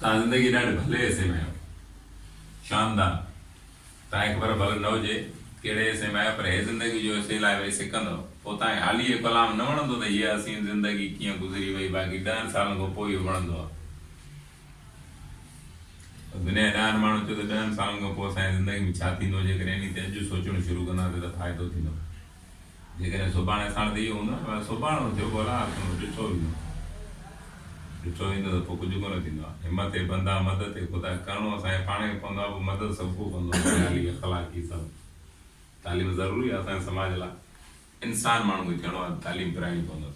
توهان زندگي ڏاڍي ڀلي حصي ۾ آهيو. شاندان. توهان کي خبر ڀل نه هجي ڪهڙي حصي ۾ آهيو پر هي زندگي جو حصي لاء ويهي سڪندؤ. پوء توهان کي حالي هي ڪلام نه وڻندو ته هيء حسين زندگي ڪيئن گذري وئي باقي ڏهن سالن کان پوء اهو وڻندو آهي. دنيا جا ڏهن ماڻهو چئو ته ڏهن سالن کان پوء اسان جي زندگي ۾ ڇا ٿيندو جيڪڏهن انهي تي اڄ سوچڻ شروع ڪنداسين ته فائدو ٿيندو. جيڪڏهن سڀاڻي ساڻس اهو هوندو نه ڀلا سڀاڻو ٿيو ڀلا آخر ڏٺو ويندو ڏٺو ويندو ته پوء ڪجهه ڪونه ٿيندو آ همت اي بندا مدد اي خدا ڪرڻو اسان کي پاڻ کي پوندو آ پوء مدد سڀ ڪو ڪندو آ مالي اخلاقي سڀ تعليم ضروري آ اسان جي سماج لا انسان ماڻهو کي ٿيڻو آ ته تعليم پرائڻي پوندس.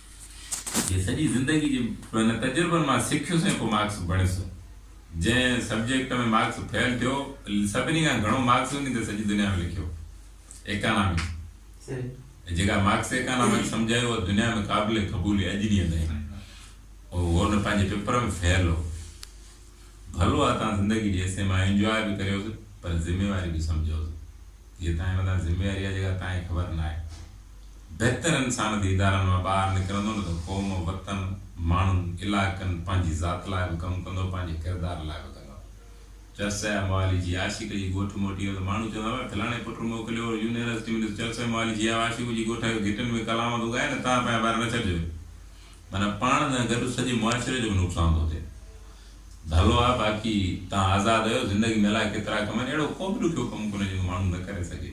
جي سڄي زندگي جي پنهن تجربن مان سکيس ۽ پوء مارڪس بڻيس. جنهن سبجيڪٽ ۾ مارڪس فيل ٿيو، سڀني کان گهڻو مارڪس وڃي ته سڄي دنيا ۾ لکيو. ايڪانامڪس. جيڪا مارڪس ايڪانامڪس سمجهائي اها دنيا ۾ قابل قبول اڄ ڏينهن تائين. اهو هن پنهنجي پيپر ۾ فيل هو. ڀلو آ تان زندگي جي حصي مان انجواء به ڪريوس پر ذميواري به سمجهوس. اهي توهان جي مٿان ذميواري آهي جيڪا توهان کي خبر نه آهي. بهتر انسان دي ادارن مان ٻاهر نڪرندو نه ته قوم، وطن، ماڻهن، علائقن، پنهنجي ذات لاء به ڪم ڪندو پنهنجي ڪردار لاء به ڪندو. چرسيا موالي جي عاشق جي ڳوٺ موٽي ويو ته ماڻهو چوندا هئا فلاڻي پٽ موڪليو هو يونيورسٽي ۾ ڏس چرسيا موالي جي آء عاشق جي ڳوٺ آيو گهٽين ۾ ڪلامون ٿو ڳائي نه توهان پنهنجا ٻار نه ڇڏجو. معنيٰ پاڻ سان گڏ سڄي معاشري جو به نقصان ٿو ٿئي. ڀلو آ باقي توهان آزاد اهيو زندگي ۾ الائي ڪيترا ڪم آهن اهڙو ڪو به ڏکيو ڪم ڪونهي جيڪو ماڻهو نه ڪري سگهي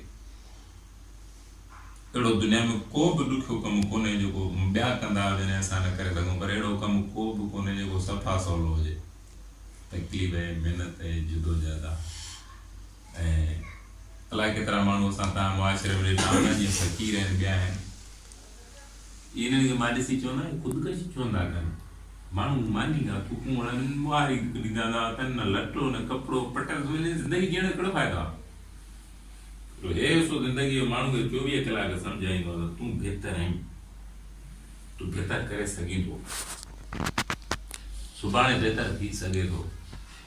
اهڙو دنيا ۾ ڪو به ڏکيو ڪم ڪونهي جيڪو ٻيا ڪندا هجن ۽ اسان نه ڪري سگهون پر اهڙو ڪم ڪو به ڪونهي جيڪو صفا سولو هجي تڪليف ۽ محنت ۽ جدوجهد آ ۽ الائي ڪيترا ماڻهو اسان تان معاشري ۾ ڏٺا آهن جيئن فقير آهن ٻيا آهن انهن کي مان ڏسي چوندا اهي خودڪشي ڇو نٿا ڪن؟ ماڻهو ماني کان ٿوڪون هڻن، ٻهاري ڏيندا هوندا هئا، کين نه لٽو نه ڪپڙو، پٽ سمجهين زندگي جيئڻ جو ڪهڙو فائدو آهي؟ پر هي سو زندگي جو ماڻهو کي چوويهه ڪلاڪ سمجهائيندو هو ته تون بهتر آهين، تون بهتر ڪري سگهين ٿو، سڀاڻي بهتر ٿي سگهي ٿو.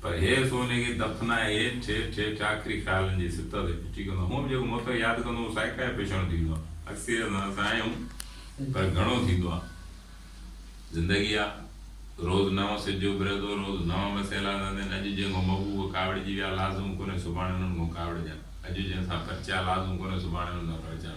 پر هيء سونهن کي دفنائي هيٺ هيٺ هيٺ آخري خيالن جي سطح تي پھچي ڪندو هئم. جيڪو متو ياد ڪندو هئم سائيڪا جو پيشڻو ٿي ويندو هئم. اڪثريت سان اسان آهيون پر گهڻو ٿيندو آ. زندگي آ. روز نئون سج اڀري ٿو، روز نئون مسئلا ايندا آھن. اڄ جنھن کان محبوب ڪاوڙجي ويا، لازم ڪونهي سڀاڻي انهن کان ڪاوڙجان. اڄ جنھن سان پرچيا، لازم ڪونهي سڀاڻي انهن سان پرچان.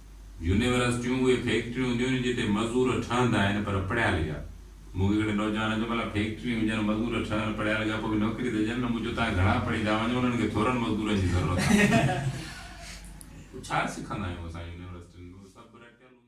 يونيورسٽيون اهي فيڪٽريون هونديون آهن جتي مزور ٺهندا آهن پر پڙهيل جا. مون کي هڪڙي نوجوان چيو ڀلا فيڪٽريون هجن مزور ٺهن پڙهيل جا پوء به نوڪري ته ڏين نه مون چيو تهان گهڻا پڙهي ٿا وڃو انهن کي ٿورن مزدورن جي ضرورت آهي. پوء ڇا سکندا آهيون اسان يونيورسٽين ۾ اهو سڀ رٽيل هوندو آهي.